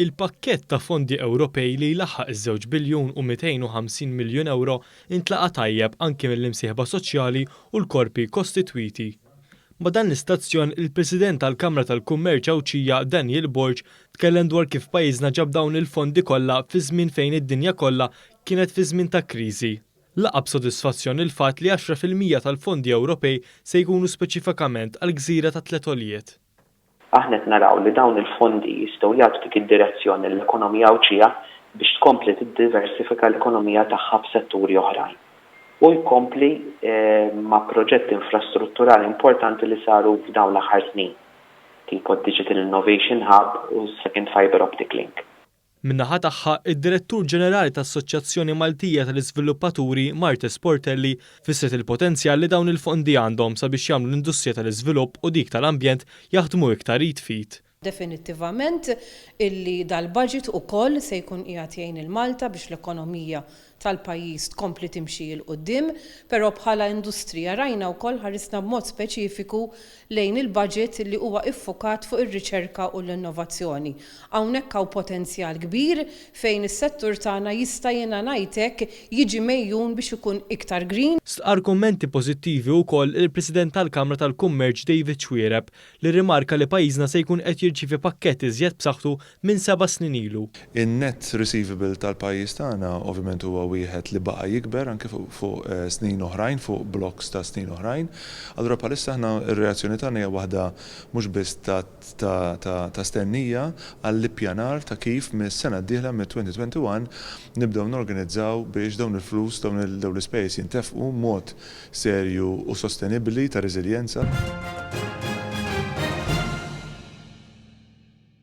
Il-pakkett ta' fondi Ewropej li jlaħħaq iż-żewġ biljun u 250 miljun ewro ntlaqa' tajjeb anki mill-imsieħba soċjali u l-korpi kostitwiti. Ma' dan l-istazzjon, il-President tal-Kamra tal-Kummerċ Għawdxija Daniel Borg tkellem dwar kif pajjiżna ġab dawn il-fondi kollha fi żmien fejn id-dinja kollha kienet fi żmien ta' kriżi. laqgħa b'sodisfazzjon il-fatt li għaxra fil-mija tal-fondi Ewropej se jkunu speċifikament għall-gżira tat-tliet għoljiet. Aħna qed naraw li dawn il-fondi jistgħu jagħtu dik id-direzzjoni lill-ekonomija Għawdxija biex tkompli tiddiversifika l-ekonomija tagħha b'setturi oħrajn u jkompli ma' proġetti infrastrutturali importanti li saru f'dawn l-aħħar snin, tipo d-Digital Innovation Hub u s-Second Fibre Optic Link. Min-naħa tagħha, id-Direttur Ġenerali tal-Assoċjazzjoni Maltija tal-Iżviluppaturi, Marthe Sportelli, fissret il-potenzjal li dawn il-fondi għandhom sabiex jagħmlu l-industrija tal-iżvilupp u dik tal-ambjent jaħdmu iktar id f'id. definittivament, illi dal-budget ukoll se jkun qiegħed jgħin lil Malta biex l-ekonomija tal-pajjiż tkompli timxi 'l quddiem, però bħala industrija rajna wkoll ħarisna b'mod speċifiku lejn il-budget li huwa iffukat fuq ir-riċerka u l-innovazzjoni. Hawnhekk hawn potenzjal kbir fejn is-settur tagħna jista' jiena ngħid hekk jiġi megħjun biex ikun iktar green. Stqarr kummenti pożittivi wkoll il-President tal-Kamra tal-Kummerċ David Xuereb li rrimarka li pajjiżna se jkun qed jirċievi pakkett iżjed b'saħħtu minn seba' snin ilu. In-net receivable tal-pajjiż tagħna ovvjament huwa wieħed li baqa' jikber anke fuq snin oħrajn, fuq blokks ta' snin oħrajn. Allura bħalissa aħna r-reazzjoni tagħna hija waħda mhux biss ta' stennija għall-ippjanar ta' kif mis-sena d-dieħla, mid-2021, nibdew norganizzaw biex dawn il-flus, dawn l-ispejjeż jintefqu b'mod serju u sostenibbli ta' reżiljenza.